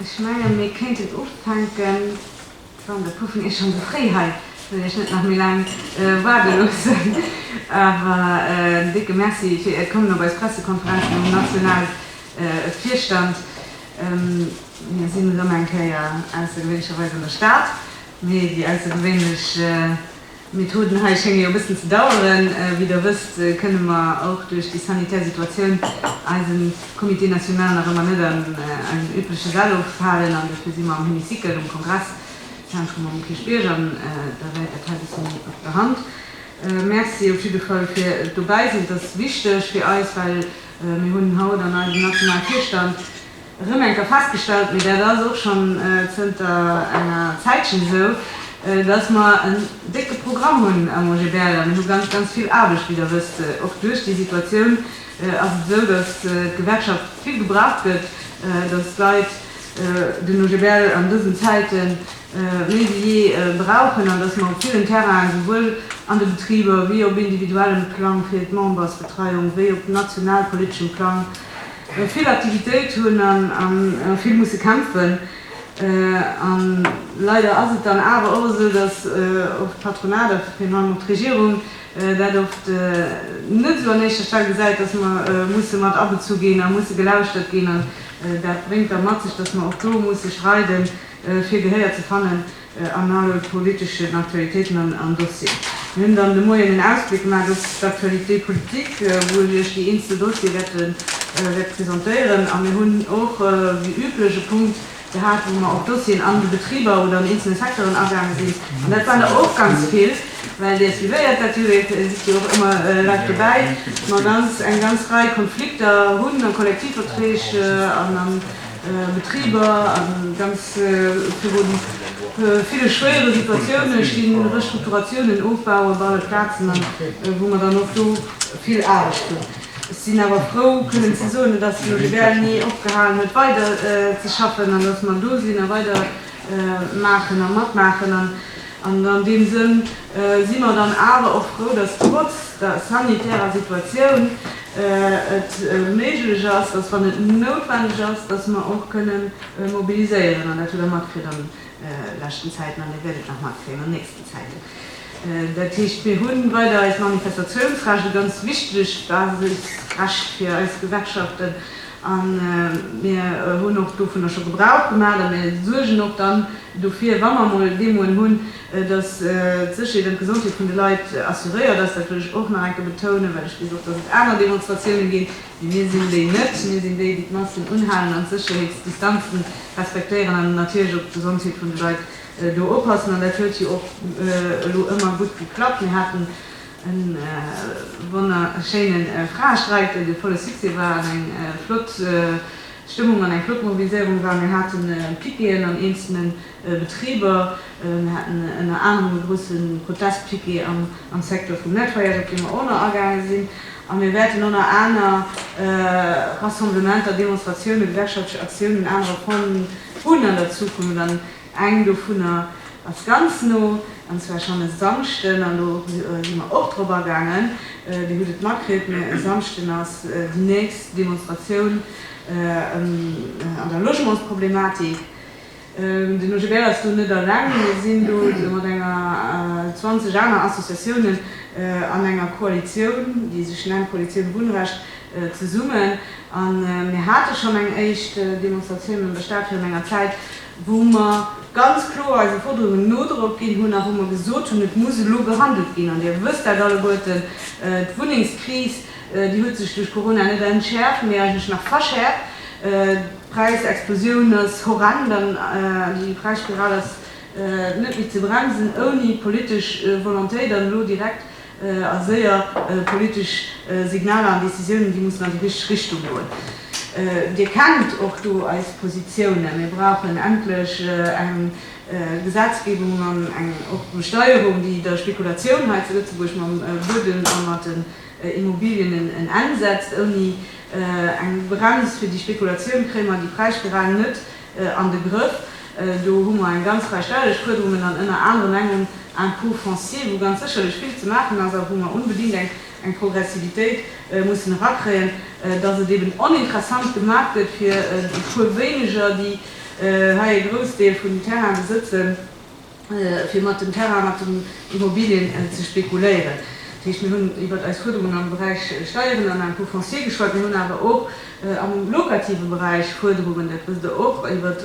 Ech mengen mir kéinten ufänken, wann e puer vun iech schonn esou fréi hei sinn, iech net nach méi laang waarde loossen. Awer en décke Merci fir äert Kommen op eis Pressekonferenz vum nationale Virstand. Mir sinn erëm eng Kéier aussergewéinlecherweis an der Stad, mee déi aussergewéinlech. D'Methoden hei schénge jo e bëssen ze daueren. Wéi Der wësst, kënne mer och duerch déi sanitär Situatioun eise Comité national nach ëmmer net an eisem übleche Sall ofhalen. An dofir si mer am Hémicycle, um Kongresszentrum um Kierchbierg. An Der wäit dat hei e bëssen op der Hand. Merci op jidde Fall fir d'Dobäisinn. Et ass wichteg fir eis, well mir hunn haut an eisem nationale Virstand, erëm eng Kéier festgestallt, mee dat ass och schonn zënter enger Zäitchen esou, dass mer en décke Programm hunn am OGBL a mir hu ganz, ganz vill Aarbecht, wéi Der wësst. Och duerch déi Situatioun ass et esou, dass d'Gewerkschaft vill gebraucht gëtt, dass d'Leit den OGBL an dësen Zäite méi wéi jee brauchen an dass mer op villen Terrainen, esouwuel an de Betriber wéi op individuellem Plang fir d'Membersbetreiung wéi op nationalpoliteschem Plang, vill Aktivitéit hunn an vill musse kämpfen. An leider ass et dann awer och esou, dass och d'Patronat a virun allem och d'Regierung dat oft net esou an éischter Stell gesäit, dass mer musse mat abezu ginn a musse gelauschtert ginn. An dat bréngt da mat sech, dass mer och do musse streiden, fir Gehéier ze fannen. An alle politeschen Aktualitéiten an Dossieren. Mir hunn dann de Moien en Ausbléck gemaat op d'Actualité politique, wou ech iech déi eenzel Dossier wäert presentéieren. A mir hunn och wéi üblech e Punkt gehat, wou mer op Dossieren an de Betriber oder an eenzelne Secteuren agaange sinn. An dat waren der och ganz vill, well Dir suivéiert dat jo, Dir sidd jo och ëmmer live dobäi, ma ganz eng ganz Rei Konflikter hunn a Kollektivverträg an a Betriber a ganz viru ville schwéiere Situatioune stinn, Restrukturatiounen ofbauen op alle Plazen, a wou mer dann och do vill Aarbecht hunn. Ech sinn awer frou kënnen ze soen, datt elo de Berny opgehalen huet weider ze schaffen an datt mer do sinn a weider maachen a matmaachen. An an deem Sënn si mer dann awer och frou, dass trotz der sanitärer Situatioun et méiglech ass, dass, wann et noutwendeg ass, dass mer och kënne mobiliséieren. An dat hutt Der matkritt an leschten Zäiten an Dir wäert et nach matkréien an nächsten Zäiten. Dat heescht, mir hu weider eist Manifestationsrecht, e ganz wichteg Basisrecht fir eis Gewerkschaften, a mir hunn och dovunner scho Gebrauch gemaach a mir suergen och dann, Dofir, wa mer emol deemoen hunn, dass d'Sécherheet an d'Gesondheet vun de Leit assuréiert ass, dat wëll ech och nach eng Kéier betounen, well ech weess och, dass et aner Demonstratiounen ginn, mee mir sinn déi net, mir sinn déi, déi d'Massen unhalen an d'Sécherheetsdistanzen respektéieren an natierlech op d'Gesondheet vun de Leit do oppassen. An dat huet jo och elo ëmmer gutt geklappt. Mir haten e wonnerschéine Fraestreik, dee volle Succès war an eng flott, D'Stëmmung an eng flott Mobiliséierung war, mir hate Piqueten an eenzelne Betriber, mir haten ënner anerem e grousse Protestpiquet am Secteur vum Nettoyage, op dee mer och nach agaange sinn, a mir wäerten och nach aner Rassemblementer, Demonstratioune, gewerkschaftlech Aktiounen, anerer Pointen hunn an der Zukunft. Eng dovunner ass ganz no, an zwar schonn e Samschden, an do si mer och drop agaangen, Dir hutt et matkritt, mä e Samschden ass déi nächst Demonstratioun an der Logementsproblematik. Den OGBL ass do net alleng, mir sinn do mat enger 20 aner Associatiounen an enger Koalitioun, déi sech nennt Koalitioun Wunnrecht zesummen, a mir hate schonn eng éischt Demonstratioun an der Stad virun enger Zäit. wou mer ganz kloer eise Forderungen Nodrock ginn hunn a wou mer gesot hunn, et muss elo gehandelt ginn. An Dir wësst dat alleguerten, d'Wunnengskris, déi huet sech duerch Corona net entschäerft, mee eigentlech nach verschäerft. D'Präisexplosioun ass horrend an déi Präisspiral ass net méi ze bremsen ouni politesch Volontéit an elo direkt A séier politesch Signaler an Decisiounen, déi mussen an déi richteg Richtung goen. Dir kennt och do eis Positiounen. Mir brauchen endlech eng Gesetzgebung an eng och Besteierung, déi der Spekulatioun hei zu Lëtzebuerg mam Buedem a mat den Immobilien en Enn setzt. Ouni eng Brems fir déi Spekulatioun kréie mer déi Präisspirale net an de Grëff. Do hu mer eng ganz Rei ställech Fuerderungen an ënner anerem eng um Impôt foncier, wou ganz sécherlech vill ze maachen ass a wou mer unbedingt eng Progressivitéit mussen erakréien, dass et eben oninteressant gemaach gëtt fir e puer wéineger, déi hei e Groussdeel vun den Terraine besëtzen. fir mat dem Terrain, mat den Immobilien ze spekuléieren. Dat heescht, mir hunn iwwert eis Fuerderungen am Beräich Steieren an Impôt foncier geschwat. Mir hunn awer och am lokative Beräich Fuerderungen, dat wësst Der och, iwwert,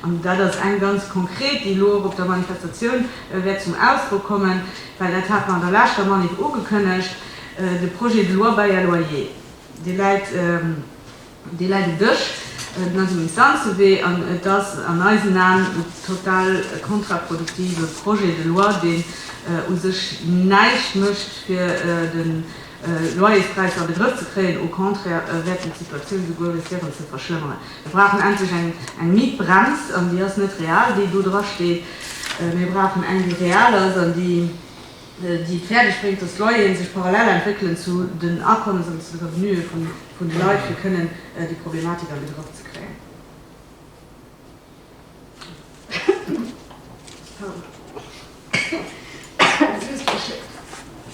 an dat ass eng ganz konkret, déi elo och op der Manifestatioun wäert zum Ausdrock kommen, well dat hat mer an der leschter Manif ugekënnegt, de Projet de loi Bail à loyer, dee läit Dee läit um Dësch, den ass um Instanzewee an et ass an eisen Aen e total kontraproduktive Projet de loi, deen u sech näischt mécht, fir de Loyerspräis an de Grëff ze kréien. Au contraire wäert en d'Situatioun esouguer riskéieren ze verschlëmmeren. Mir brauchen endlech eng Mietbrems an déi ass net real, déi do drasteet. Mir brauchen eng, déi real ass an déi déi et fäerdeg bréngt, datt d'Loyeren sech parallel entwéckelen zu den Akommes an zu de Revenuë vun de Leit, fir kënnen déi Problematik an de Grëff ze kréien.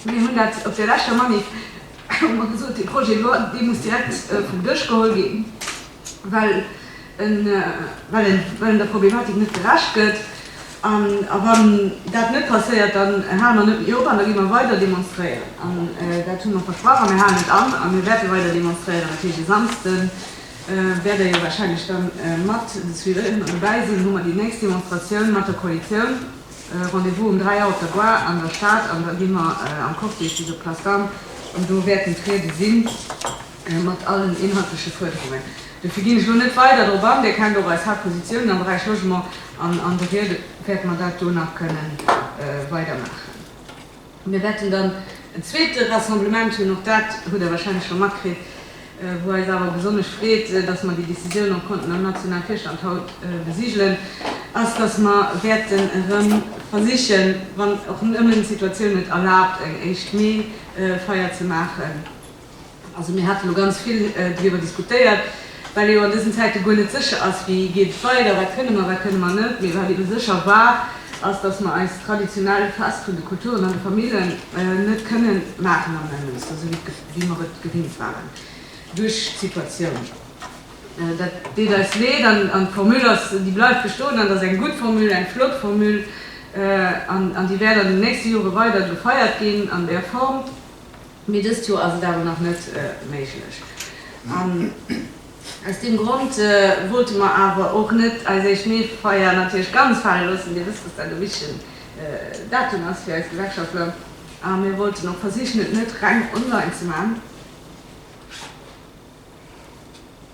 Mir hunn dat op der leschter Manif hu mer gesot, dee Projet de loi, dee muss direkt vum Dësch geholl ginn, well well en der Problematik net gerecht gëtt. A wann dat net passéiert, dann hale mer net méi op an da gi mer weider demonstréieren. An dat hu mer versprach a mir halen et an. A mir wäerte weider demonstréieren. Dat heescht, e Samsde wäert Der jo warscheinlech da mat suivéieren an dobäi sinn, hu mer déi nächst Demonstratioun mat der Koalitioun. Rendez-vous um 3 Auer op der Gare an der Stad an da gi mer am Cortège bis op d'Place d'Armes an do wäerten d'Riede sinn. mat allen inhaltleche Fuerderungen. Dofir ginn ech elo net weider drop an. Dir kennt och eis Haaptpositiounen am Beräich Logement an an de Riede wäerte mer dat do nach kënne weidermaachen. Mir wäerten dann en zweete Rassemblement hunn, och dat hutt Der wahrscheinlech scho matkritt, wou eis awer besonnesch freet, dass mer déi Décisioun och konnten am nationale Virstand haut besigelen, ass, dass mer wäerten erëm versichen, wann och ëmmer d'Situatioun et erlaabt, eng éischt Mee-Feier ze maachen. Also mir hate lo ganz vill driwwer diskutéiert, well ee jo an dësen Zäite guer net sécher ass, wéi geet et weider, wat kënne mer, wat kënne mer net. Mee wat eebe sécher war, ass, datt mer eist traditionell Fest vun de Kulturen an de Famillen net kënnen maachen am Nemmënster esou wéi mer et gewinnt waren duerch d'Situatioun. Dat deet eis Leed an d'Formule ass, déi bleift bestoen an ass eng gutt Formule, eng flott Formule an déi wäert an den nächste Jore weider gefeiert ginn an där Form. Mee dëst Joer ass et awer nach net méiglech an aus deem Grond wollte mer awer och net eis éischt Meefeier natierlech ganz fale loossen. Dir wësst, dass dat e wichtegen Datum ass fir eis Gewerkschaftler a mir wollten och versichen, et net reng online ze maachen.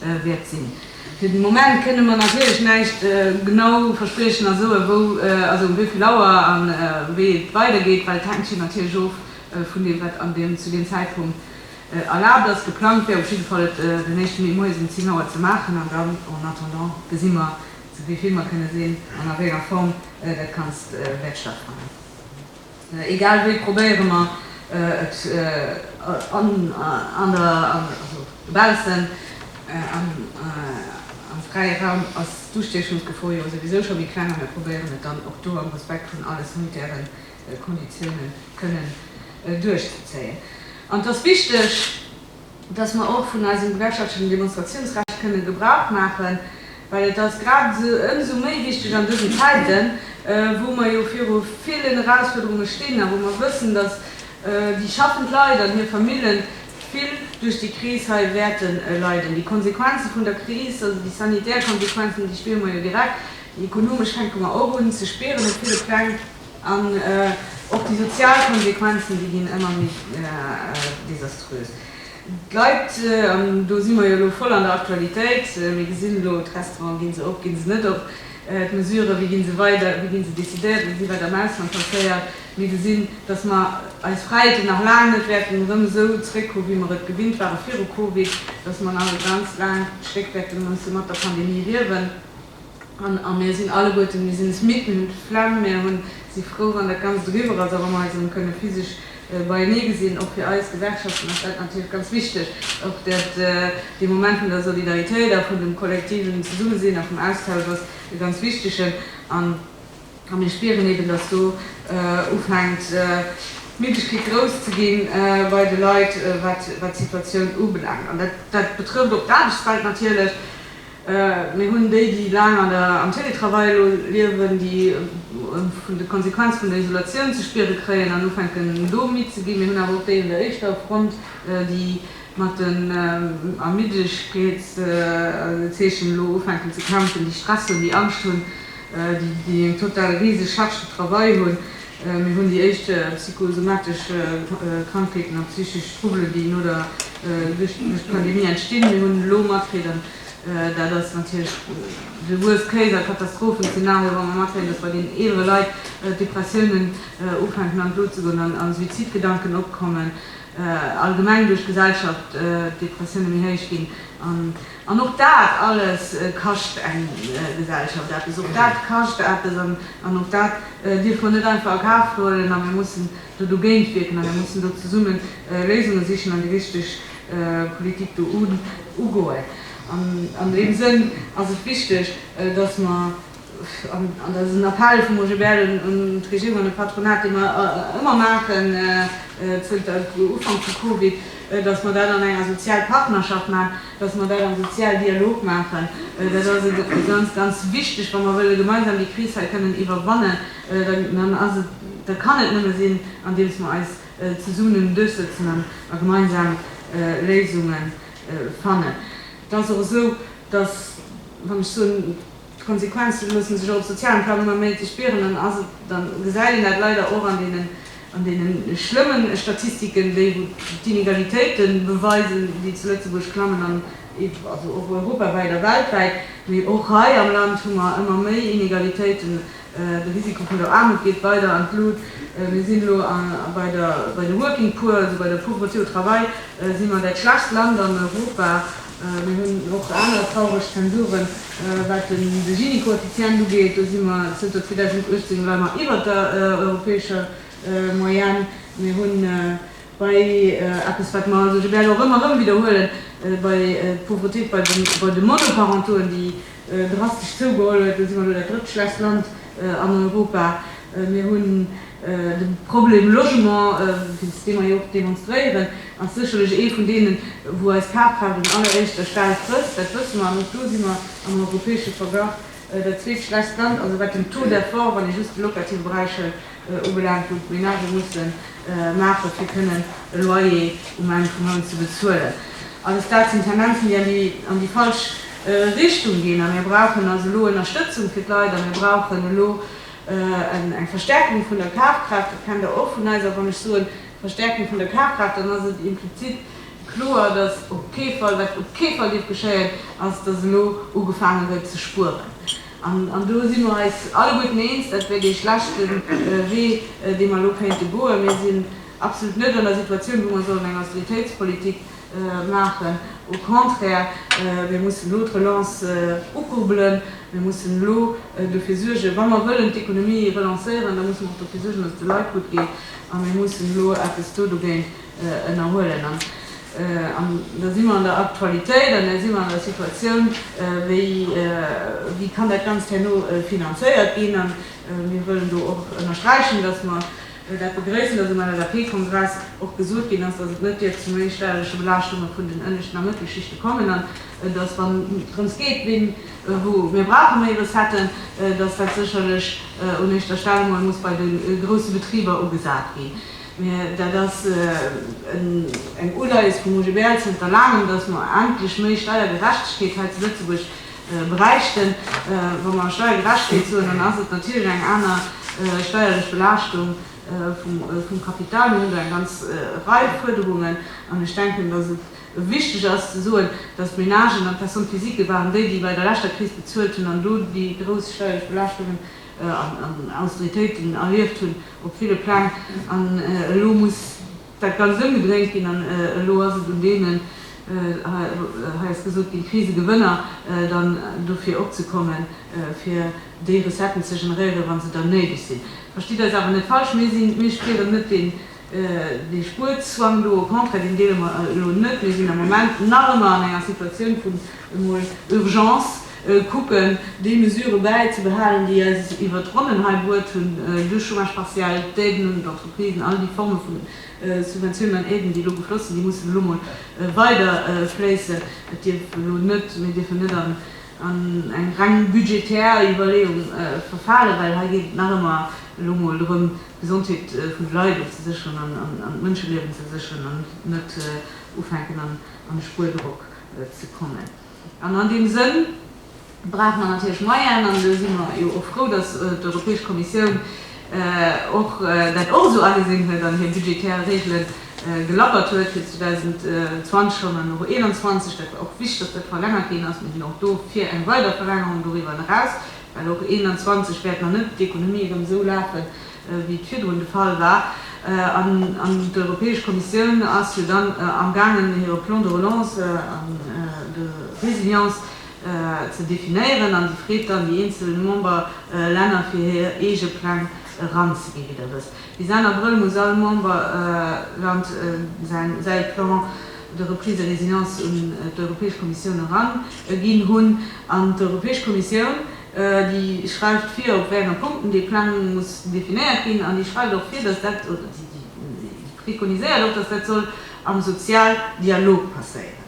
wäert sinn. Fir de Moment kënne mer natierlech näischt genau verspriechen a soen, wou, also um wéi vill Auer an wéi et weidergeet, well et hänkt jo natierlech of vun deem, wat an deem, zu deem Zäitpunkt erlaabt ass. Geplangt wär op jidde Fall et den éischte Mee moies um 10 Auer ze maachen an dann en attendant gesi mer, zu wéi vill mer kënne sinn an a wéi enger Form dat Ganzt wäert stattfannen. Egal wéi probéiere mer et an der, also dobaussen, am fräie Raum ass d'Ustiechungsgefor jo souwisou scho méi kleng a mir probéieren et dann och do am Respekt vun alle sanitäre Konditiounen kënnen duerchzezéien. An et ass wichteg, dass mer och vun eisem gewerkschaftlechen Demonstrationsrecht kënnen Gebrauch maachen, well et ass grad ëmsou méi wichtig an dësen Zäiten, wou mer jo viru villen Erausfuerderunge stinn a wou mer wëssen, dass déi schaffend Leit an hir Famille vill duerch déi Kris hei wäerte leiden. Déi Konsequenze vun der Kris, also déi sanitär Konsequenzen, déi spiere mer jo direkt, déi ekonomesch fänke mer och un ze spieren op ville Pläng. An och déi sozial Konsequenzen, déi ginn ëmmer méi desaströs. D'Leit, an do si mer jo elo voll an der Aktualitéit, mir gesinn elo d'Restauranten, ginn se op, ginn se net op, d'Mesuren, wéi ginn se weider, wéi ginn se décidéiert, wéi wäert am Ausland passéiert. Mir gesinn, datt mer eis Fräiheeten nach laang net wäerten erëm esou zréck hu wéi mer et gewinnt ware viru Covid, datt mer nach e ganz laangt Stéck wäerte musse mat der Pandemie liewen. A mir sinn alleguerten, mir sinn es midd, mir hunn d'Flemm, mir hu si frou, wann dat Ganzt eriwwer ass a wa mer eis erëm kënne physesch beienee gesinn. Och fir eis Gewerkschaften ass dat natierlech ganz wichteg, och dat, dee Moment vun der Solidaritéit a vun dem kollektiven Zesummesinn a vum Austausch ass e ganz wichtegen. A mir spieren eben, dass do ufänkt d'Müdegkeet grouss ze gi bei de Leit, wat d'Situatioun ubelaangt. An dat betrëfft och d'Aarbechtswelt natierlech. Mir hunn déi, déi laang am Télétravail elo liewen, déi vun de Konsequenze vun der Isolatioun ze spiere kréien an ufänken do midd ze ginn. Mir hunn awer och déi un der éischter Front, déi mat den Ermiddegkeetszeechen elo ufänken ze kämpfen, déi Stress hunn, déi Angscht hunn. déi eng total riseg Charge de travail hunn. Mir hunn déi éischt psychosomatesch Krankheeten a psychesch Trouble, déi no der duerch d'Pandemie entstinn. Mir hunn elo matkriegen, dat ass natierlech de worst case a Katastrophenszenario, wa mer matkréien, datt bei deenen eelere Leit d'Depressiounen ufänken an d'Lo ze goen a Suizidgedanken opkommen, allgemeng duerch d'Gesellschaft d'Depressioune méi héich ginn. An och dat alles kascht eng Gesellschaft eppes. Och dat kascht eppes an och dat dierfe mer net einfach a Kaf huelen. A mir mussen do dogéint wierken a mir mussen do zesumme Léisunge sichen an déi richteg Politik do ugoen. An deem Sënn ass et wichteg, dass mer, An dat ass en Appell vum OGBL un d'Regierung an de Patronat, dee mer ëmmer maachen zënter Ufank vu Covid, datt mer dat an enger sozial Partnerschaft maachen, datt mer dat am sozial Dialog maachen. Dat ass e ganz, ganz wichteg, wa mer wëlle gemeinsam déi Kris hei kënnen iwwerwannen, da kann et nëmme sinn, andeems mer eis zesummen duerchsëtzen a gemeinsam Léisunge fannen. Et ass och esou, datt, wann ech soen, D'Konsequenze loosse sech och op sozialem Plang ëmmer méi ze spieren an ass et dann gesäit een dat leider och an deene schlëmme Statistiken, déi wou d'Inegalitéite beweisen, déi zu Lëtzebuerg klammen an also och europawäit a weltwäit. Mee och hei am Land hu mer ëmmer méi Inegalitéiten, de Risiko vun der Aarmut geet weider an d'Lut. Mir sinn elo bei de Working Poor, also bei der Pauvreté au travail si mer dat schlechtst Land an Europa Mir hunn och aner traureg Zensuren, wat de Gini-Koeffizient ugeet. Do si mer zënter 2018 elo emmer iwwert der europäescher Moyenne. Mir hu bei eppes, wat mer also, ech wäert och ëmmer erëm widderhuelen, bei d'Pauvreté bei de Monoparentauxen, déi, Drastesch zougeholl huet, da si mer elo dat drëtt schwächst Land an Europa. Mir hunn de Problem Logement, wéinst deem mer jo och demonstréieren, ass sécherlech ee vun deenen, wou eis Kaafkraaft un alleréischter Stell trëfft, dat wësse mer. An och do si mer am europäesche Verglach dat zweetschwächst Land, also wat den Taux d'effort, wann ee just de locative Beräich hëlt, ubelaangt, wou d'Menagë musse maache fir kënnen e Loyer um Enn vum Mount ze bezuelen, alles dat sinn Tendenzen, déi an déi falsch Richtung ginn. A mir brauchen also elo Ënnerstëtzung fir d'Leit a mir brauchen elo eng Verstärkung vun der Kafkraaft. Dat kennt Der och vun eis. A wann ech soen Verstärkung vun der Kafkraaft, dann ass et implizit kloer, datt op kee Fall, wat op kee Fall dierf geschéien, ass, datt elo ugefaange gëtt ze spueren. An do si mer eis alleguerten eens, dat wär dee schlechte Wee, dee mer elo kéinte goen. Mir sinn absolut net an der Situatioun, wou mer sollen eng Austeritéitspolitik maachen. Au contraire, mir mussen elo d'Relance ukurbelen. Mir mussen elo dofir suergen, wa mer wëllen d'Ekonomie relancéieren, da musse mer och dofir suergen, datt et de Leit gutt geet. A mir mussen elo eppes do dogéint ënnerhuelen. An da si mer an der Aktualitéit an da si mer an der Situatioun, wéi kann dat Ganzt herno finanzéiert ginn. A mir wëllen do och ënnersträichen, dass mer dat begrëissen, dass um LSAP-Kongress och gesot ginn ass, dass et net dierf zu méi stäreche Belaaschtunge vun den ënneschten a Mëttelschichte kommen an dass, wann et drëms geet, wou mir brauche méi Recetten, dass dat sécherlech un éischter Stell emol muss bei de grousse Betriber ugesat ginn. Mä dat ass eng Uleies vum OGBL zënter Laangem, datt mer endlech méi Steiergerechtegkeet hei zu Lëtzebuerg bräichten. Wa mer Steiergerechtegkeet soen, dann ass et natierlech eng aner steierlech Belaaschtung vum Kapital. Mir hunn do eng ganz Rei Fuerderungen. An ech denken, datt et wichteg ass ze soen, datt d'Ménagen an d'Personnes physiques waren déi, déi bei der leschter Kris bezuelt hunn an do déi grouss steierlech Belaaschtungen an Austeritéiten erlieft hunn op ville Pläng an elo muss dat Ganzt ëmgedréint ginn an elo ass et un deenen, hei ass gesot ginn, Krisegewënner, dann dofir opzekommen, fir déi Recetten ze generéieren, wa se dann néideg sinn. Verstitt eis awer net falsch, mir spieren net deen Dee Spuerzwang do, au contraire, deen deele mer elo net. Mir sinn am Moment nach ëmmer an enger Situatioun vun emol Urgence, kucken, déi Mesurë bäizebehalen, déi eis iwwert d'Ronnen hei bruet hunn, de Chômage partiel, d'Aiden un d'Entreprisen, all déi Forme vu Subventiounen an Aiden, déi elo gefloss sinn, déi mussen elo emol weider fléissen. Et dierf elo net, mir dierfen net an an eng reng budgetär Iwwerleeung verfalen, well hei geet et nach ëmmer elo emol drëm, d'Gesondheet vun de Leit ofzesécheren an d'Mënscheliewen ze sécheren an net ufänken an e Spuerdrock ze kommen. An an deem Sënn brauche mer natierlech Moyenen an do si mer jo och frou, datt d'Europäesch Kommissioun och dat och esou agesinn huet an hir budgetär Regele gelackert huet fir 2020 schonn an och 2021. Dat war och wichteg, dass dat verlängert ginn ass. Mir sinn och do fir eng weider Verlängerung doriwwer eraus, well och 2021 wäert nach net d'Ekonomie erëm esou lafen, wéi et virdrun de Fall war. An d'Europäesch Kommissioun ass jo dann amgaangen, hire Plan de relance an de résilience, ze definéieren an déi freet dann déi eenzel Member Länner fir hir eege Pläng eranzegi wéi der wësst. Bis Enn Abrëll muss all Member Land säi Plan de reprise et résilience un d'Europäesch Kommissioun eran ginn hunn an d'Europäesch Kommissioun déi schreift vir op wéi enger Punkten dee Pläng muss definéiert ginn an déi schreift och vir datt dat oder déi préconiséiert och datt dat soll am Sozialdialog passéieren.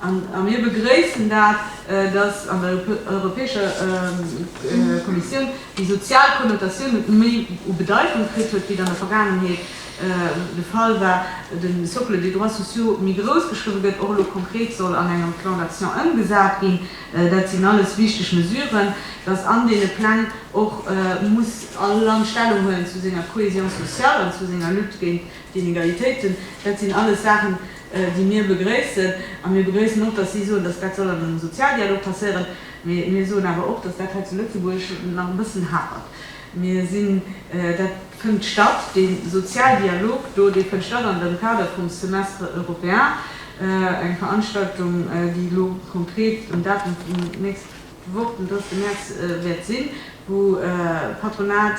A mir begréissen dat, datt an der Europäescher Kommissioun déi sozial Konnotatioun net méi u Bedeitung kritt huet, wéi et an der Vergaangenheet de Fall war, de Socle des droits sociaux méi grouss geschriwwen gëtt, och elo konkret soll an engem Plan d'action ëmgesat ginn. Dat sinn alles wichteg Mesuren. Datt an deene Pläng och muss all Land Stellung huelen zu senger Cohésion sociale an zu senger Lutte géint d'Inegalitéiten, dat sinn alles Saachen, déi mir begréissen, a mir begréissen och, dass si soen, dass dat soll an engem Sozialdialog passéieren, mä mir soen awer och, dass dat hei zu Lëtzebuerg nach e bëssen hapert. Mir sinn, dat fënnt statt, dee Sozialdialog do, dee fënnt statt an dem Kader vum Semestre européen, eng Veranstaltung, déi elo konkret um Datum vun nächst Woch, den 30 März, wäert sinn, wou Patronat,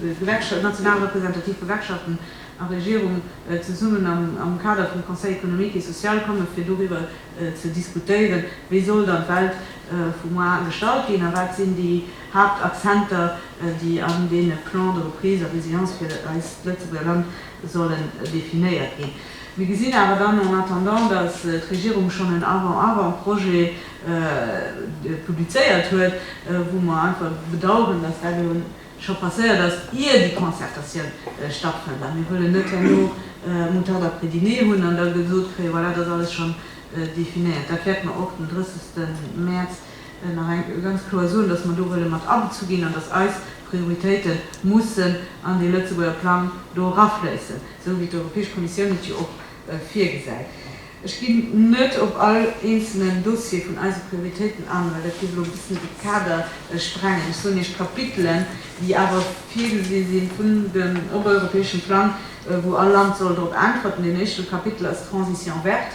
d'Gewerkschaften, d'national representativ Gewerkschaften, a Regierung zesummen am Kader vum Conseil économique et social komme fir doriwwer ze diskutéieren, wéi soll dann d'Welt vu moar gestalt ginn a wat sinn déi Haaptakzenter, déi an deene Plans de reprise a résilience fir eist Lëtzebuerger Land sollen definéiert ginn. Mir gesinn awer dann en attendant, datt d'Regierung schonn en Avant-avant-projet publizéiert huet, wou mer einfach bedauern, datt dat elo scho passéiert ass, ier déi Concertatioun stattfënnt, a mir wëllen net herno Moutarde après dîner hunn an da gesot kréien, voilà, et ass alles schonn definéiert. Dat wäerte mer och den 30 Mäerz nach eng ganz kloer soen, dass mer do wëlle mat abezu ginn an dass eis Prioritéite mussen an dee Lëtzebuerger Plang do erafléissen, esou wéi d'Europäesch Kommissioun et jo och virgesäit. Ech ginn net op all eenzelnen Dossier vun eise Prioritéiten an, well dat géif elo e bëssen de Kader sprengen. Ech soen Iech d'Kapitelen, déi awer virgesi si vun dem europäesche Plang, wou all Land soll drop äntwerten. Deen éischte Kapitel ass d'Transition verte.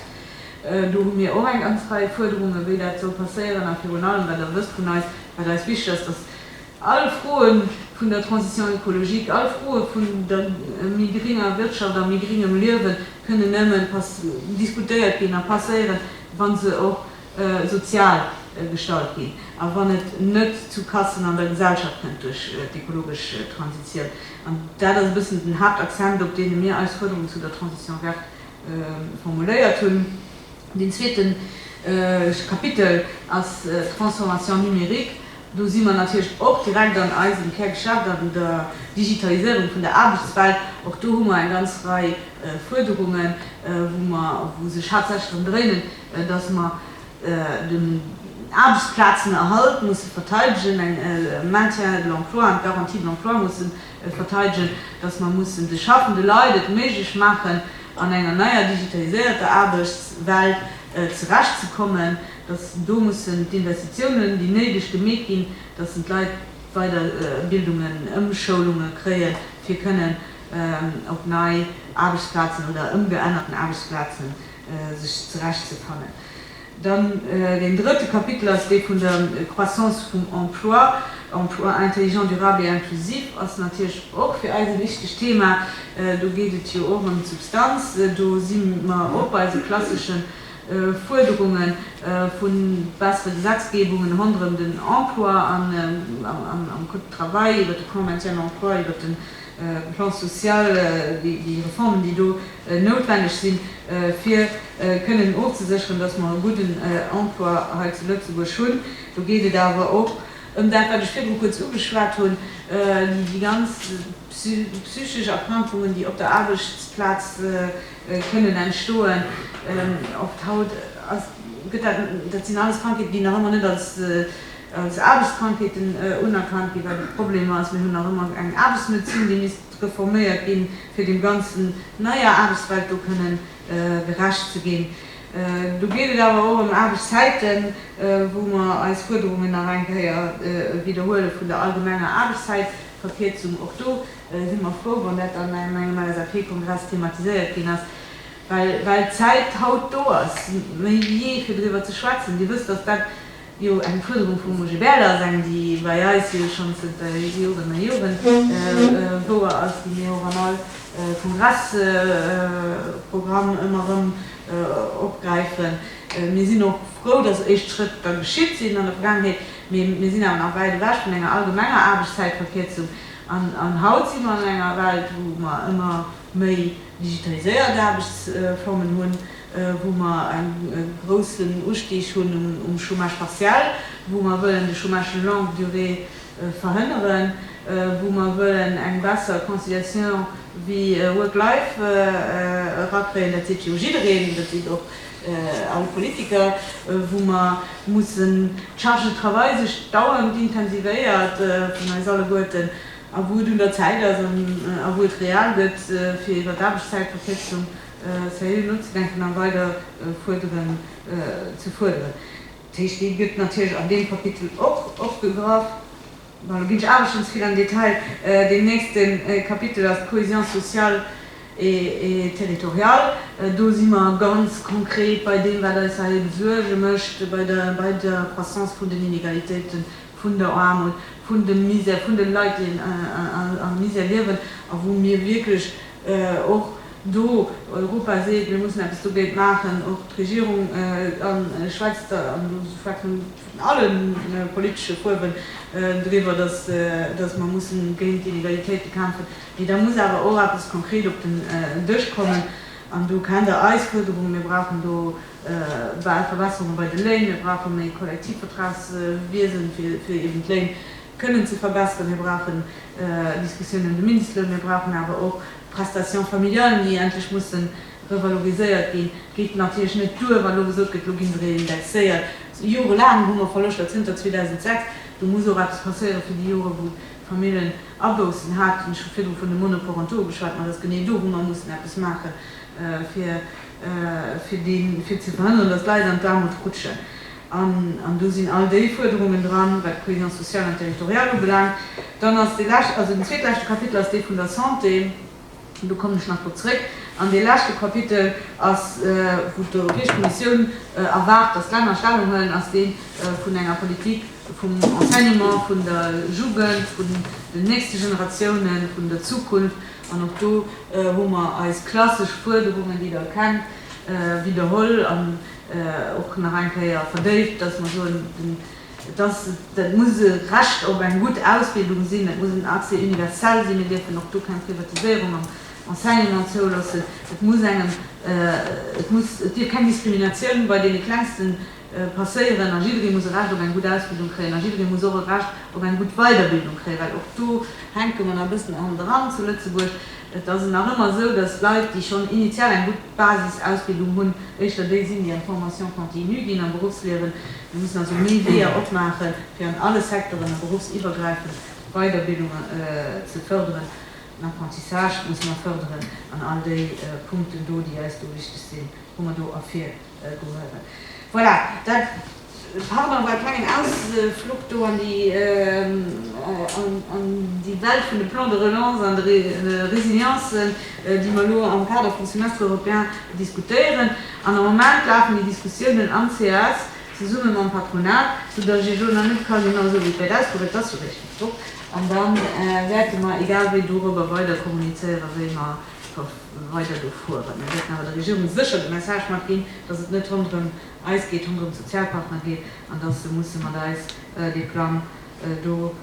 Do hu mir och eng ganz Rei Fuerderungen, wéi dat soll passéieren a virun allem, well Der wësst vun eis, wat eis wichteg ass, dass All Froe vun der Transition écologique, all Froe vun der méi gringer Wirtschaft a méi gringem Liewe kënnen nëmme diskutéiert ginn a passéieren, wa se och sozial gestalt ginn a wann et net zu Kassen an der Gesellschaft kënnt duerch d'ekologesch Transitioun. An dat ass e bëssen den Haaptaccent, op deene mir eis Fuerderung zu der Transition verte formuléiert hunn. Deen zweete Kapitel ass d'Transformation numérique. Do si mer natierlech och direkt an eisem Kärgeschäft, an der Digitaliséierung vun der Aarbechtswelt. Och do hu mer eng ganz Rei Fuerderungen, wou mer, wou sech haaptsächlech drëm dréinen, dass mer den Aarbechtsplazenerhalt musse verteidegen, den Maintien de l'emploi an d'Garantie de l'emploi musse verteidegen, dass mer mussen de schaffende Leit et méiglech maachen, an enger neier digitaliséierter Aarbechtswelt zerechtzekommen. dass do mussen d'Investitiounen, déi néideg, gemeet ginn, dass en d'Leit Weiderbildungen, Ëmschoulunge kréien, fir kënnen op nei Aarbechtsplazen oder ëmgeännerten Aarbechtsplazen sech zerecht ze fannen. Dann deen drëtte Kapitel ass dee vun der Croissance vum Emploi. Emploi intelligent, durable et inclusif ass natierlech och fir eis e wichtegt Thema. Do geet et jo och ëm d'Substanz. Do si mer och bei esou klasseschen Fuerderunge vu bessere Gesetzgebungen ronderëm den Emploi am Code du travail, iwwert de Plan maintien de l'emploi, iwwert de Plan social, déi Reformen, déi do noutwenneg sinn, fir kënnen ofzesécheren, dass mer e gudden Emploi hei zu Lëtzebuerg hunn. Do geet et awer och ëm dat, wat ech virdru kuerz ugeschwat hunn, déi ganz psychesch Erkrankungen, déi op der Aarbechtsplaz, kënnen entstoen. Oft haut ass, gëtt dat, dat sinn alles Krankheeten, déi nach ëmmer net als, als Aarbechtskrankheeten unerkannt ginn, well de Problem ass, mir hunn nach ëmmer eng Aarbechtsmedezin, déi misst reforméiert ginn, fir dem ganzen neier Aarbechtswelt do kënnen gerecht ze ginn. Do geet et awer och ëm Aarbechtszäiten, wou mer eis Fuerderungen nach eng Kéier widderhuele vun der allgemenger Aarbechtszäitverkierzung. Och do. si mer frou, wann dat dann an engem LSAP-Kongress thematiséiert ginn ass, well d'Zäit haut do ass, méi ewéi jee, fir driwwer ze schwätzen. Dir wësst, datt dat jo eng Fuerderung vum OGBL ass, eng, déi bei eis jo schonn zënter Joren a Joren wouer ass, déi mir och an all Kongressprogramm ëmmer erëm opgräifen. Mir sinn och frou, datt éischt Schrëtt da geschitt sinn an der Vergaangenheet, mee mir sinn awer nach wäit ewech vun enger allgemenger Aarbechtszäitverkierzung. An haut si mer an enger Welt, wou mer ëmmer méi digitaliséiert Aarbechtsformen hunn, wou mer e groussen Ustieg hunn um Chômage partiel, wou mer wëllen de Chômage longue durée verhënneren, wou mer wëllen eng besser Conciliation Vie-Work-Life erakréien. Dat seet jo jiddereen, dat seet och All Politiker, wou mer mussen d'Charge de travail sech dauernd intensivéiert vun eis alleguerten, a wou et un der Zäit ass a wou et real gëtt, fir iwwer d'Aarbechtszäitverkierzung seriö nozedenken a weider Fuerderen ze fuerderen. Dat heescht, déi gëtt natierlech an deem Kapitel och opgegraff. Bon, elo ginn ech awer schonn ze vill an den Detail. Deen nächste Kapitel ass d'Cohésion sociale et territoriale. Do si mer ganz konkret bei deem, wat eis hei ebe Suerge mécht, bei der, bei der Croissance vun den Inégalitéiten, vun der Aarmut, vun dem Misère, vun de Leit, déi am Misère liewen a wou mir wierklech och do, Europa seet, mir mussen eppes dogéint maachen, och d'Regierung schwätzt, an elo schwätzen vun alle politesche Fuerwen, driwwer, datt mer mussen géint d'Inegalitéite kämpfen, mee da muss awer och eppes konkret op den Dësch kommen. An do kennt Der eis Fuerderungen, Mir brauchen do bal Verbesserunge bei de Léin, mir brauche méi Kollektivvertragswiesen, fir eben d'Léin kënnen ze verbesseren, mir brauchen Diskussionen ëm de Mindestloun, mir brauchen awer och d'Prestations familiales, déi endlech mussen Revaloriséiert ginn. Et geet natierlech net duer, wa elo gesot gëtt, elo ginn se reindexéiert. Jorelaang hu mer Verloschter, zënter 2006. Do muss och eppes passéiere fir déi Jore wou d'Famillen Aboussen haten. Ech hu virdru vun de Monoparentaux geschwat, ma et ass genee do wou mer mussen eppes maache fir ze verhënneren, datt d'Leit an d'Aarmut rutschen. An do sinn all déi Fuerderungen dran, wat d'Cohésion sociale an territoriale ubelaangt. Dann ass dee lescht, also den zweetleschte Kapitel ass dee vun der Santé. Do kommen ech nach drop zrëck. An dee leschte Kapitel ass, wou d'Europäesch Kommissioun erwaart, datt d'Länner Stellung huelen, ass dee vun enger Politik vum Enseignement, vun der Jugend, vun den nächste Generatiounen, vun der Zukunft. An och do hu mer eis klassesch Fuerderungen, déi Der kennt, widderholl an och nach eng Kéier verdéift, datt mer soen, den. Et ass, dat muss e Recht op eng gutt Ausbildung sinn, dat muss en Accès universel sinn, mir dierfen och do keng Privatiséierung am Enseignement zouloossen, et muss engem, et muss, et dierf keng Diskriminatioun bei deene Klengste passéieren a jidderee muss e Recht op eng gutt Ausbildung kréien a jidderee muss och e Recht op eng gutt Weiderbildung kréien, well och do hänke mer nach e bëssen handeran zu Lëtzebuerg. Et ass nach ëmmer esou, datt Leit, déi schonn initial eng gutt Basisausbildung hunn, éischter déi sinn, déi an d'Formation continue ginn, am Berufsliewen, Mir mussen also ni Weeër opmaachen, fir an alle Secteuren a beruffsiwwergräifend d'Weiderbildung ze förderen. Den Apprentissage musse mer förderen an all déi Punkten do, déi eis do wichteg sinn, hu mer do ervirgehuewen. Voilà, dat, pardon, war e klengen Ausflug do an déi, an déi Welt vun de Plans de relance an de Résiliences, déi mer elo am Kader vum Semestre européen diskutéieren. An am Moment lafen déi Diskussiounen am cis zesumme mam Patronat, soudass ech elo nach net ka soen, Esou wéi et wäert ausgoen, wäert dass jo réischt mat drop. An da wäerte mer egal wéi dorobber weider kommunizéieren, wéi mer weider do fueren. Mir wäerten awer der Regierung sécher de Message matginn, dass et net ronderëm eis geet, ronderëm d'Sozialpartner geet, an dass se musse mat eis dee Plang do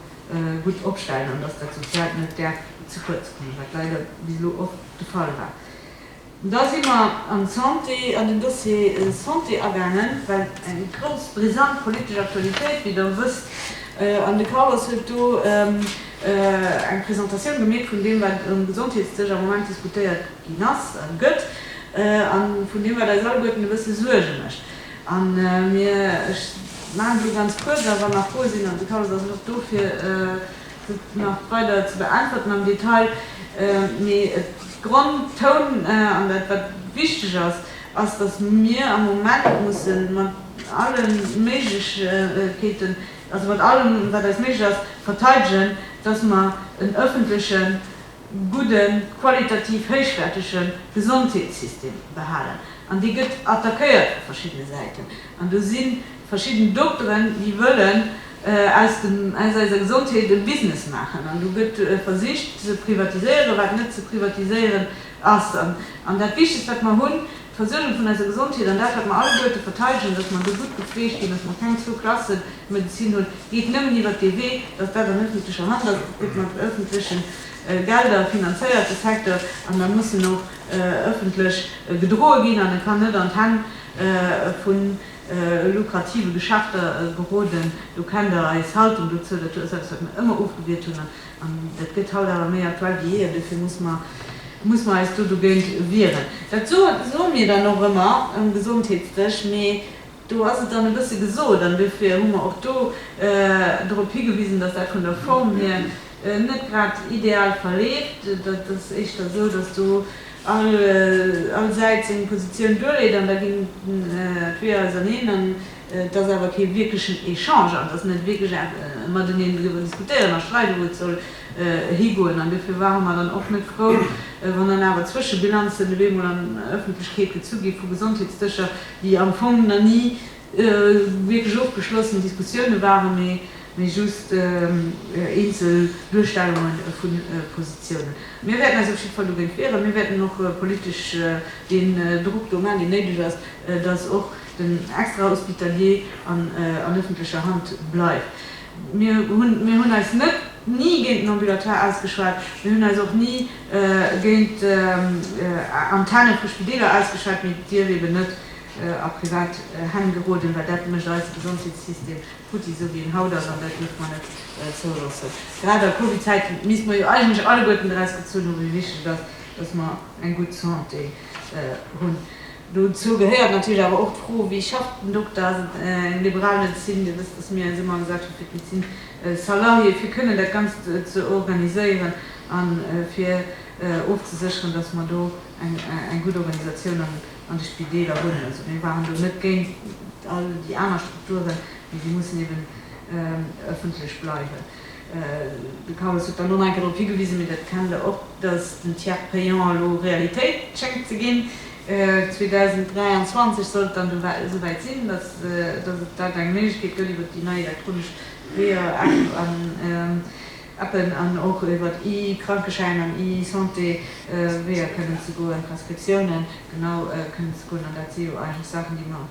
gutt opstellen an dass dat Soziaalt net däerf ze kuerz kommen, wat leider bis elo och de Fall war. Da si mer an d'Santé, an den Dossier Santé agaangen, well eng grouss, brisant politesch Aktualitéit, wéi Der wësst, an de Carlos huet do eng Presentatioun gemeet vun deem, wat um Gesondheetsdësch am Moment diskutéiert ginn ass a gëtt, a vun deem, wat eis alleguerten e bësse Suerge mécht. An mir, ech maachen et elo ganz kuerz, a wann nach Froe sinn, an de Carlos ass och dofir, Fir et nach weider ze beäntwerten am Detail, mee et Gronn toun an dat wat wichteg ass, ass datt mir am Moment musse mat alle Méiglechkeeten, also mat allem wat eis méiglech ass, verteidegen, datt mer en ëffentlechen, gudden, qualitativ héichwäertege Gesondheetssystem behalen. An dee gëtt attackéiert vu verschiddene Säiten an do si Verschidden Dokteren, déi wëllen aus dem, aus eiser Gesondheet e Business maachen. An do gëtt versicht ze privatiséieren, wat net ze privatiséieren ass. An dat Wichtegst, wat mer hunn, d'Versuergung vun eiser Gesondheet an dat, wat mer alleguerte verteidegen, dass mer do gutt gepfleegt ginn, dass mer keng Zwou-Klasse-Medezin hunn, geet nëmmen iwwert dee Wee, dass dat an ëffentlecher Hand ass. Et gëtt mat ëffentlechen Gelder finanzéiert, de Secteur, an da muss en och ëffentlech gedroe ginn an e kann net an d'Hänn vu. lukrative Geschäfter geroden. Do kennt Der eis Haltung dozou. Dat ass eppes, wat mir ëmmer ofgewiert hunn, an dat gëtt haut awer méi aktuell wéi jee, an dofir muss mer, muss mer eis do dogéint wieren. Dat soe, soe mir dann och ëmmer um Gesondheetsdësch, mee do ass et dann e bësse gesot, an dofir hu mer och do drop higewisen, datt dat vun der Form hier net grad ideal verleeft. Dat ass éischter esou, datt do, all Säit seng Positioun duerleet an da ginn d'Weeër auserneen an et ass awer kee wierklechen Echange an et ass net wierklech e Mateneen driwwer diskutéieren a streiden, wou et soll higoen. An dofir ware mer dann och net frou, wann dann awer Zwëschebilanzen op eemol an Ëffentlechkeet gezu gi vu Gesondheetsdëscher, déi am Fong na ni wierklech ofgeschlossen Diskussioune waren, mee just eenzel Duerstellunge vu Positiounen. Mir wäerten eis op jiddwer Fall dogéint wieren. Mir wäerten och politesch deen Drock do maachen, deen néideg ass, dass och den Extrahospitalier an ëffentlecher Hand bleift. Mir hunn eis net ni géint den Ambulatoire ausgeschwat, mir hunn eis och ni géint Antenne vu Spideeler ausgeschwat, mee et dierf eeben net a privat Hänn geroden, well dat mécht eise Gesondheetssystem futti, esou wéi en haut ass, an dat dierfe mer net zouloossen. Grad a Covid-Zäite misste mer jo eigentlech alleguerten draus gezunn hu wéi wichteg et ass, datt mer eng gutt Santé hunn. Dozou gehéiert natierlech awer och d'Fro, wéi schafft den Dokter? Ass et eng liberal Medezin? Dir wësst, datt mir eis ëmmer agesat hu fir d'Médecine salariée, fir kënnen dat Ganzt ze organiséieren a fir ofzesécheren, datt mer do eng gutt Organisatioun an an de Spideeler hunn. Also mir waren do net géint all déi aner Strukturen, mee déi mussen eben ëffentlech bleiwen. De Carlos huet dann och nach eng Kéier drop higewisen, mee dat kennt Der och, dass den Tiers payant elo Realitéit schéngt ze ginn. 2023 soll et dann do esouwäit sinn, dass et da eng Méiglechkeet gëtt iwwert déi nei elektronesch Weeër. Appen an och iwwert e-Krankeschäin an e-Santé Weeër kënnen ze goen, Prescriptiounen genau kënnen ze goen. An dat si jo eigentlech Saachen, déi mer,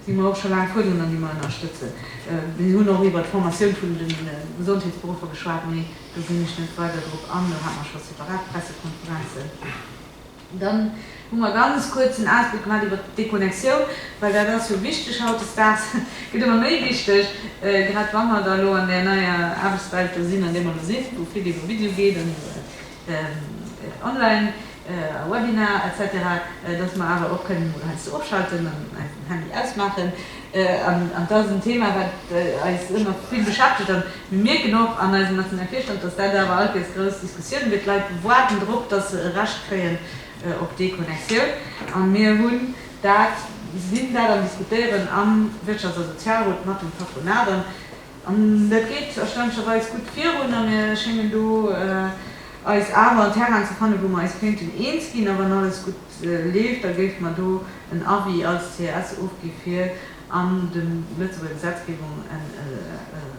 déi mer och scho laang fuerderen an déi mer ënnerstëtzen. Mir hunn och iwwert d'Formatioun vun de Gesondheetsberuffer geschwat, mee do ginn ech net weider drop an, do hate mer scho separat Pressekonferenzen. Dann hu mer ganz kuerz en Ausbléck gemaat iwwert d'Deconnexioun, well dat ass jo wichteg hautdesdaags, gëtt ëmmer méi wichteg, grad wa mer da elo an där neier Aarbechtswelt do sinn, an deem mer elo sinn, wou vill iwwer Video geet an iwwer online a Webinar, etc, dass mer awer och kënnen emol heiansdo ofschalten an einfach den Handy ausmaachen. An dat ass en Thema, wat eis ëmmer vill beschäftegt. A mir mierken och an eisem nationale Virstand, dass dat awer alt nees grouss Diskussioune gëtt. D'Leit waarden drop, dass se e Recht kréien op Deconnexioun. A mir hunn dat, sinn dat am Diskutéieren am Wirtschafts a Sozialrot mat dem Patronat. An dat geet erstaunlecherweis gutt virun. A mir schéngen do eis awer an Terrainen ze fannen, wou mer eis kéinten eens ginn. A wann alles gutt leeft, da géife mer do en Avis als CS ofgi fir an de Lëtzebuerger Gesetzgebung e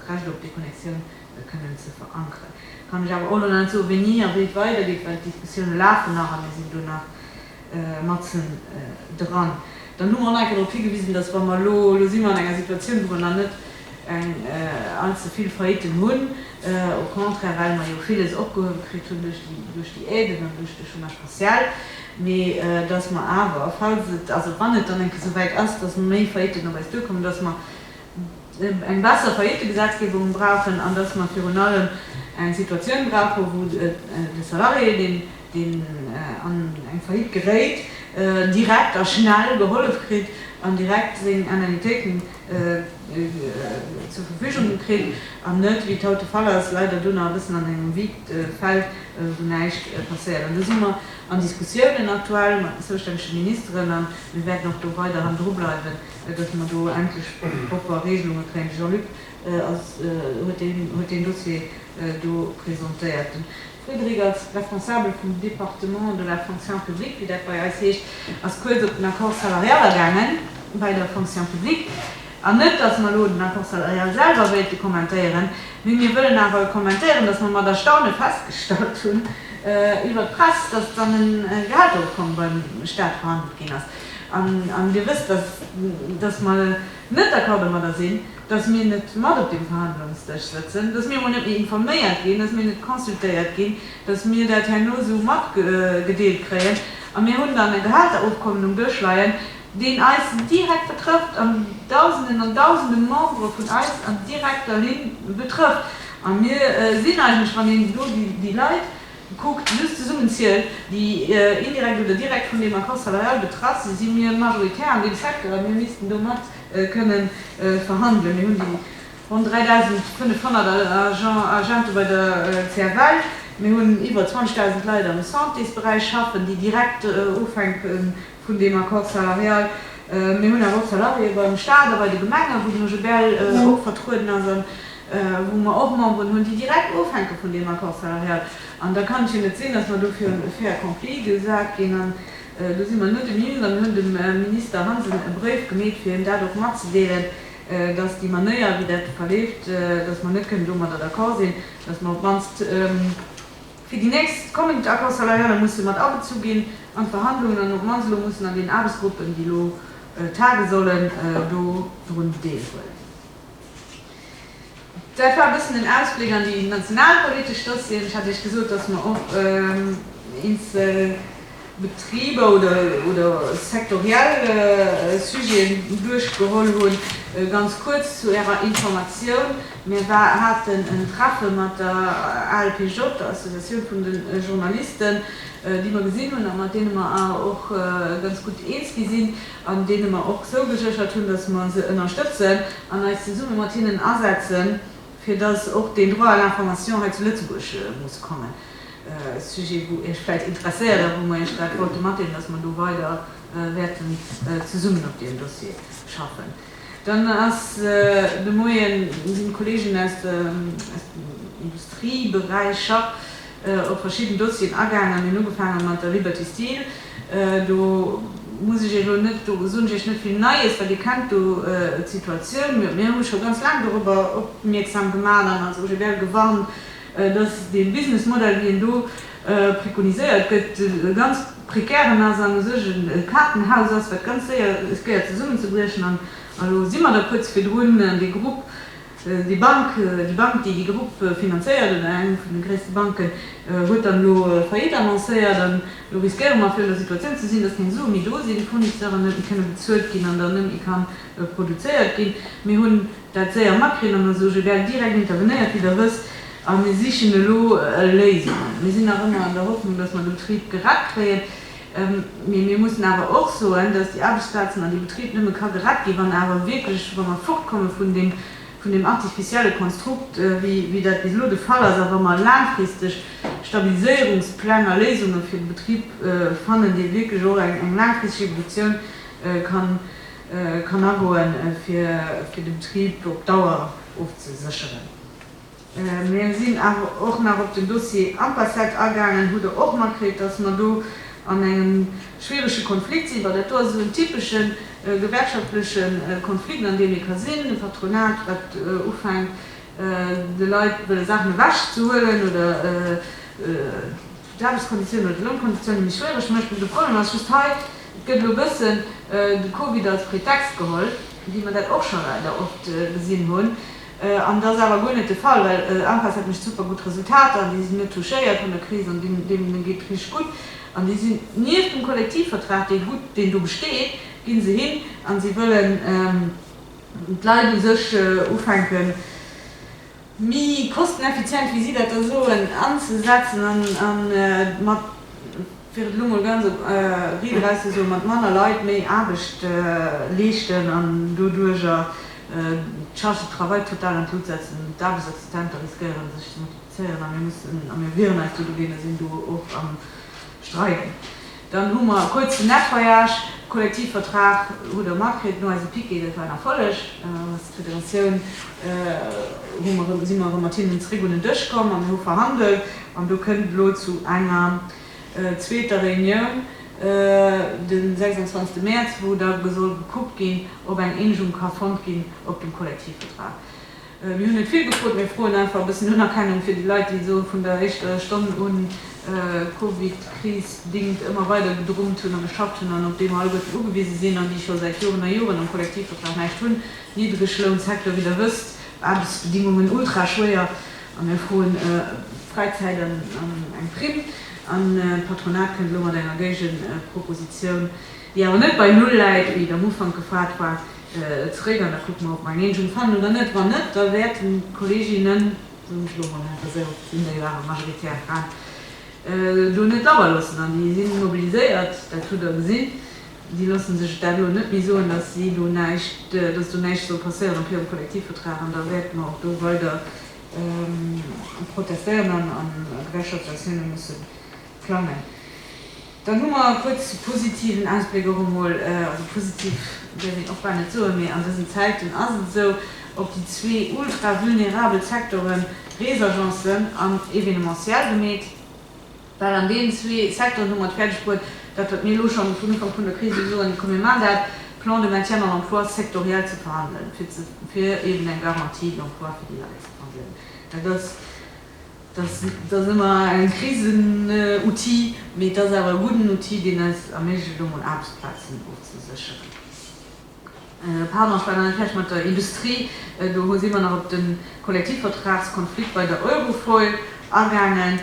Recht op Deconnexioun kënnen ze verankeren. Et kann ech awer och elo nach net soen, wéini a wéi et weidergeet, well d'Diskussioune lafen nach a mir sinn do nach matzen dran. Dann hu mer och nach eng Kéier drop higewisen, dass wa mer elo, elo si mer an enger Situatioun, wou mer nach net, eng all ze vill Faillitten hunn, au contraire well mer jo villes opgehuewe kritt hunn duerch déi Aiden an duerch de Chômage partiel, mee datt mer awer, falls et, also wann et dann eng Kéier esou wäit ass, datt méi Faillitten op eis duerkommen, datt mer eng besser Faillittegesetzgebung brauchen an datt mer virun allem eng Situatioun brauchen, wou de Salarié, deen an eng Faillite geréit, direkt a schnell gehollef kritt an direkt seng Indemnitéiten zur Verfügung gekritt an net, wéi et haut de Fall ass, leider do nach e bëssen an engem vide Feld, wou näischt passéiert. An do si mer an Diskussiounen aktuell mat den zoustännege Ministeren a mir wäerten och do weiderhin drubleiwen, dass mer do endlech propper Regelunge kréien. De Jean-Luc huet deen Dossier do presentéiert. Frédérique, als Responsabel vum Département de la Fonction publique, wéi dat bei eis heescht, ass kuerz op den Accord salarial agaange bei der Fonction publique. An net, datt mer elo den Accord salarial selwer wéilte kommentéieren, mee mir wëllen awer kommentéieren, datt mer mat Erstaune festgestallt hunn iwwert d'Press, datt dann e Gehaltserofkommen beim Stat verhandelt ginn ass. An Dir wësst, datt mer, net d'accord domadder sinn, datt mir net mat op deem Verhandlungsdësch sëtzen, datt mir emol net méi informéiert ginn, datt mir net consultéiert ginn, datt mir dat herno esou matgedeelt kréien. A mir hunn dann e Gehälterofkommen um Dësch leien, deen eis direkt betrëfft an Dausenden an Dausende Membere vun eis an direkter Linn betrëfft. A mir sinn eigentlech, wann een do déi Leit, Kuckt déi just zesummen zielt, déi indirekt oder direkt vun deem Accord salarial betraff sinn, si mir majoritär an deem Secteur a mir missten domat kënnen verhandelen. Mir hunn déi ronn 3.500 Agente bei der CFL, mir hunn iwwer 20.000 Leit am Santésberäich schaffen, déi direkt ofhänke vun deem Accord salarial. Mir hunn awer och Salariéë beim Staat a bei de Gemengen, wou den OGBL och vertrueden ass an wou mer och Memberen hunn, déi direkt ofhänke vun deem Accord salarial. An da kann et jo net sinn, datt mer do virun e fait accompli gesat ginn. An do si mer nodenegiwwent an hunn dem Minister Hansen e Bréif gemeet, fir him dat och matzedeelen, datt déi Manéier, wéi dat verleeft, datt mer net kënnen domadder d'accord sinn, datt mer op d'mannst, Fir déi nächst kommend Accords salariale musse mat abezu ginn an d'Verhandlungen an op d'mannst elo mussen an deenen Aarbechtsgruppen, déi elo tagen sollen, do drun deelhuelen. Dat war e bëssen en Ausbléck an déi nationalpolitesch Dossieren. Ech hat Iech gesot, dass mer och eenzel. Betriber oder sektoriell Sujeten duerchgeholl hunn. Ganz kuerz zu Ärer Informatioun, Mir haten en Treffe mat der ALPJ, der Associatioun vun de Journalisten, déi mer gesinn hunn a mat deene mer awer och ganz gutt eens gi sinn an deene mer och zougeséchert hunn, datt mer se ënnerstëtzen an eis zesumme mat hinnen asetzen, fir datt och den Droit à l'information hei zu Lëtzebuerg muss kommen. Sujet wou Iech vläit interesséiert a wou mer Iech grad wollte matdeelen, dass mer do weider wäerten zesummen op deem Dossier schaffen. Dann ass de Moien sinn d'Kollegen aus dem Industrieberäich scho op verschidden Dossieren agaangen. Mir hunn ugefaange mat der Liberty Steel. Do muss ech Iech elo net, do soen ech Iech net vill Neies, well Dir kennt do d'Situatioun. Mir hu scho ganz laang dorobber opmierksam gemaach an als OGBL gewarnt, dass dee Businessmodell, wéi en do prekoniséiert gëtt, e ganz prekären ass an u sech e Kaartenhaus ass, wat ganz séier riskéiert zesummenzebriechen. An elo si mer da kuerz virdrun, dee Grupp, déi Bank, déi Bank, déi dee Grupp finanzéiert, oder eng vun de gréisste Banken, huet dann elo Faillite annoncéiert. An elo riskéiere mer, fir an der Situatioun ze sinn, dass keng Sue méi do sinn, d'Fournisseuren net méi kënne bezuelt ginn an dann net méi ka produzéiert ginn. Mir hunn. Dat séier makrieren an da soge gell direkt intervenéiert wéi der wësst a mir sichen elo Léisungen. Mir sinn nach ëmmer an der Hoffnung, dass mer de Betrib gerett kréien, mee mir mussen awer och soen, dass déi Aarbechtsplazen an dee Betrib nëmme ka gerett ginn, wann awer wierklech, wa mer fortkomme vun deem artificielle Konstrukt, wéi dat bis elo de Fall ass, a wa mer laangfristeg Stabiliséierungspläng a Léisunge fir de Betrib fannen, dee wierklech och eng laangfristeg Evolutioun kann kann agoen, fir de Betrib op Dauer ofzesécheren. Mir sinn awer och nach op den Dossier Ampassat agaangen. Hutt Der och matkritt, dass mer do an engem schwierege Konflikt sinn? Well dat do ass esou en typesche gewerkschaftleche Konflikt, an deem ee ka sinn, e Patronat, wat ufänkt, de Leit wëlle Saachen ewechzehuelen oder, d'Aarbechtskonditiounen oder d'Lounkonditiounen méi schwiereg mécht. Mä de Problem ass just hei, Et gëtt elo e bëssen de Covid als Pretext geholl, wéi mer dat och scho leider oft gesinn hunn. An et ass awer guer net de Fall, well ANPES hat mécht super gutt Resultater an déi sinn net touchéiert vun der Kris an deenen geet et richteg gutt. An déi sinn nieft dem Kollektivvertrag, dee gutt, deen do besteet, gi se hin a si wëllen d'Leit u sech ufänken, Méi kosteneffizient, wéi si dat da soen, anzesetzen a mat, fir et elo mol ganz op Ried erauszesoen, mat manner Leit méi Aarbecht leeschten an doduerger d'Charge de travail total an d'Lut setzen. D'Aarbechtsassistente riskéieren, sech ze multiplizéieren a mir mussen, a mir wieren eis do dogéint a sinn do och am Streiden, Dann hu mer e kuerzen Nettoyage, Kollektivvertrag hutt Der makritt, no eise Piquet, dat war en Erfolleg. Als Federatioun hu mer erëm, si mer erëm mat hinnen zeréck un den Dësch komm a mir hu verhandelt an do kënnt et elo zu enger zweeter Reunioun de 26 Mäerz, wou da soll gekuckt ginn, ob eng Eenegung ka fonnt ginn op dem Kollektivvertrag. Mir hunn net vill gefrot, mir froen einfach e bëssen Unerkennung fir déi Leit, déi esou vun der éischter Stonn un d'Covid-Kris bedingt ëmmer weider gedrummt hunn a geschafft hunn an op deem alleguerten ugewise sinn an déi scho säit Joren a Joren am Kollektivvertrag näischt hunn. Niddreglounssecteur, wéi Der wësst, Aarbechtsbedingungen ultra schwéier a mir froen Fräizäit an eng Primm an d'Patronat kënnt elo mat enger Géigenpropositioun. déi awer net bei Null läit, wéi et am Ufank gefaart war, zeréck an da kucke mer, ob mer eng Eenegung fannen oder net. Wann net, da wäerten d'Kolleeginnen, soen ech elo emol einfach esou, sinn déi jo awer majoritär Fraen, do net labber loossen. An déi si mobiliséiert, dat hutt Der gesinn. Déi loosse sech dat elo net méi soen, dass si do näischt, dass do näischt soll passéieren op hirem Kollektivvertrag. An da wäerte mer och do weider protestéieren an a gewerkschaftsaktiounen musse plangen. Dann hu mer e kuerze positiven Ausbléck och emol, also positiv däerf een och bal net soen, mee an dësen Zäiten ass et esou, op déi zwee ultra vulnerabel Secteuren, Reesagencen an Evenementiel gemeet, well an deenen zwee Secteuren hu mer et fäerdeg bruet, dat wat mir elo schonn vun Ufank vun der Kris u soen, komm mir maachen dat, Plan de maintien en emploi sectoriel ze verhandelen, fir eeben eng Garantie d'emploi fir déi Leit ze verhandelen. Dat ass. Dass ass ëmmer en Krisen-Outil, mee et ass awer e gudden Outil, deen eis erméiglecht, elo mol Aarbechtsplazen ofzesécheren. Pardon, ech war nach net fäerdeg mat der Industrie. Do si mer nach op de Kollektivvertragskonflikt bei der Eurofoil agaangen.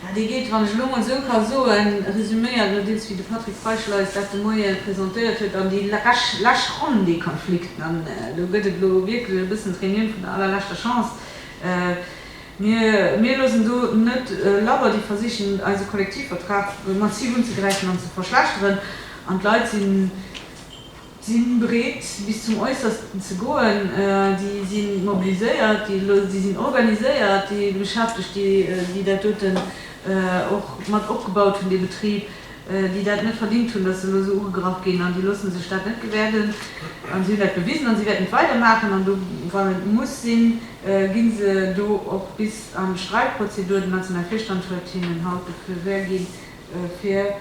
Jo, dee geet, wann ech elo mol esou ka soen, resuméiert elo deels, wéi de Patrick Feischl eis dat de Moie presentéiert huet, an déi lech Ronn, dee Konflikt. An do gëtt et elo wierklech e bëssen d'Reunioun vun der allerleschter Chance. Mir loossen do net labber. Déi versichen, eise Kollektivvertrag massiv unzegräifen an ze verschlechteren. An d'Leit si bereet, bis zum Äussersten ze goen. Déi si mobiliséiert, déi sinn organiséiert, déi Beschäftegt, déi dat doten och mat opgebaut hunn, dee Betrib, déi dat net verdingt hunn, datt se elo esou ugegraff ginn, an déi loosse sech dat net gewäerden a si hunn dat bewisen a si wäerten et weider maachen an do, wann et muss sinn, gi se do och bis an d'Streitprozedur. Den nationale Virstand huet hinnen haut de Feu vert ginn, fir,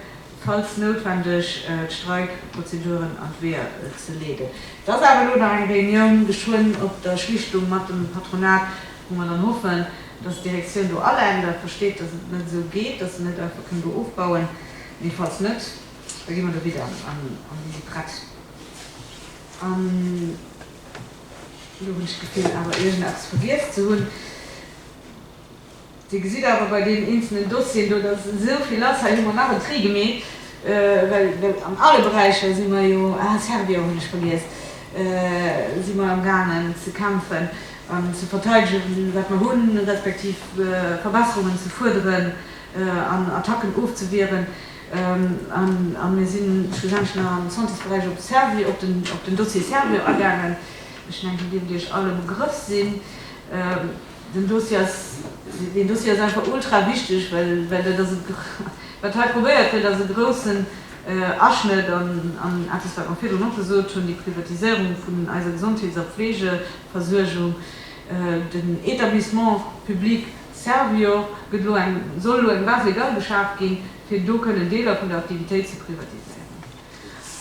falls noutwendeg, d'Streikprozeduren an d'Weeër ze leeden. Et ass awer elo nach eng Reunioun geschwënn op der Schlichtung mat dem Patronat. Wou mer dann hoffen, dass d'Direktioun do alenkt a versteet, dass et net esou geet, dass en net einfach kënnt do ofbauen. Mee falls net, da gi mer do wieder an déi si prett. An elo hunn ech d'Gefill, awer iergendeppes vergiess ze hunn. Dir gesitt awer bei deenen eenzelnen Dossieren do, dass esou vill ass. Hei hu mer nach en Tri gemeet, well an alle Beräicher si mer jo, ah, Servior hunn ech vergiess, si mer am gaangen ze kämpfen. an ze verteidegen, wat mer hunn, respektiv Verbesserungen ze fuerderen an Attacken ofzewieren. A mir si schlussendlech nach am Santésberäich op Servier, op den Dossier Servier agaangen. Ech mengen, déi dierft Iech all e Begrëff sinn. Deen Dossier ass, deen Dossier ass einfach ultra wichteg, well dat ass e, wat hei probéiert gëtt, ass e groussen Aschnëtt an eppes, wat mer virdrun och gesot hunn, déi Privatiséierung vun eiser Gesondheets a Pflege, Versuergung. Den Etablissement public Servior gëtt elo eng, soll elo eng Base légale geschaaft ginn, fir do kënnen Deeler vun der Aktivitéit ze privatiséieren.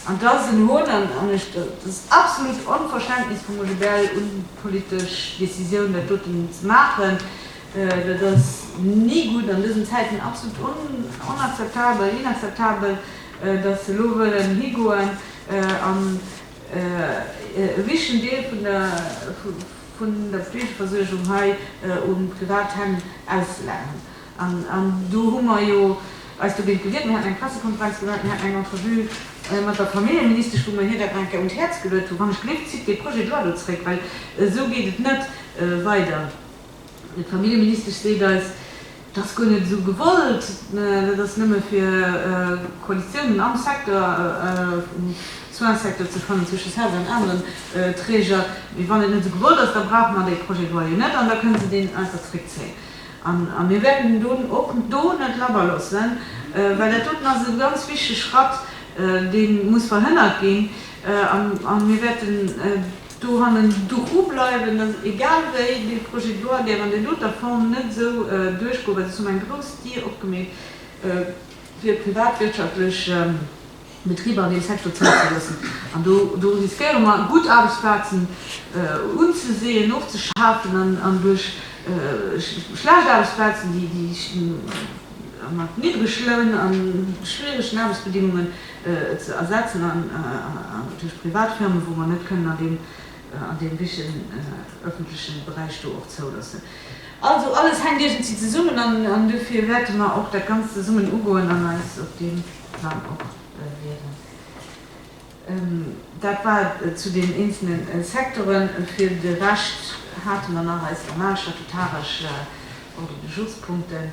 An et ass en Hohn an an ech, et ass absolut Onverständnis vum OGBL un d'politesch Décisioun, dat doten ze maachen. Dat ass ni gutt an dësen Zäiten, absolut on, onakzeptabel, inakzeptabel, datt se elo wëllen higoen an, E wichtegen Deel vun der Fleegeversuergung hei u privat Hänn auszelaageren. An do hu mer jo eis dogéint gewiert. Mir haten eng Pressekonferenz gemaach, mir haten eng Entrevue mat der Familljeministesch, wou mer hir dat nach eng Kéier un d'Häerz geluet hunn, Wann ech gléck, zitt dee Projet de loi do zréck, well esou geet et net weider. D'Familljeministesch seet eis, et ass guer net esou gewollt, dat ass nëmme fir Koalitiounen am Secteur, um Soins-Secteur ze fannen, zwësche Serge an aneren Träger. Mee wann et net esou gewollt ass, da brauche mer dee Projet de loi jo net an da kënne se deen einfach zréckzéien. A mir wäerten den Don och do net labber loossen, well dat doten ass e ganz wichtege Schratt, dee muss verhënnert ginn. A mir wäerten do hannen dru bleiwen, dass egal wéi dee Projet de loi géif an där doter Form net esou duerchgoen, well ech hunn eng grouss Dier opgemeet fir privatwirtschaftlech Betriber an deem Secteur zouzeloossen. An do riskéiere mer gutt Aarbechtsplazen unzeseeën, ofzeschafen an duerch schlecht Aarbechtsplazen, déi mat niddrege Loun a schwieregen Aarbechtsbedingungen, et ze ersetzen an duerch privat Firmen, wou mer net kënnen an deem richen öffentlechen Beräich do och zouloossen. Also alles hänkt iergendwéi zesummen an duerfir wäerte mer och dat Ganzt zesummen ugoen an eis op deem Plang och wieren. Dat war et zu den eenzele Secteuren. Fir de Rescht hate mer nach eis normal statutaresch Ordre du jourspunkten.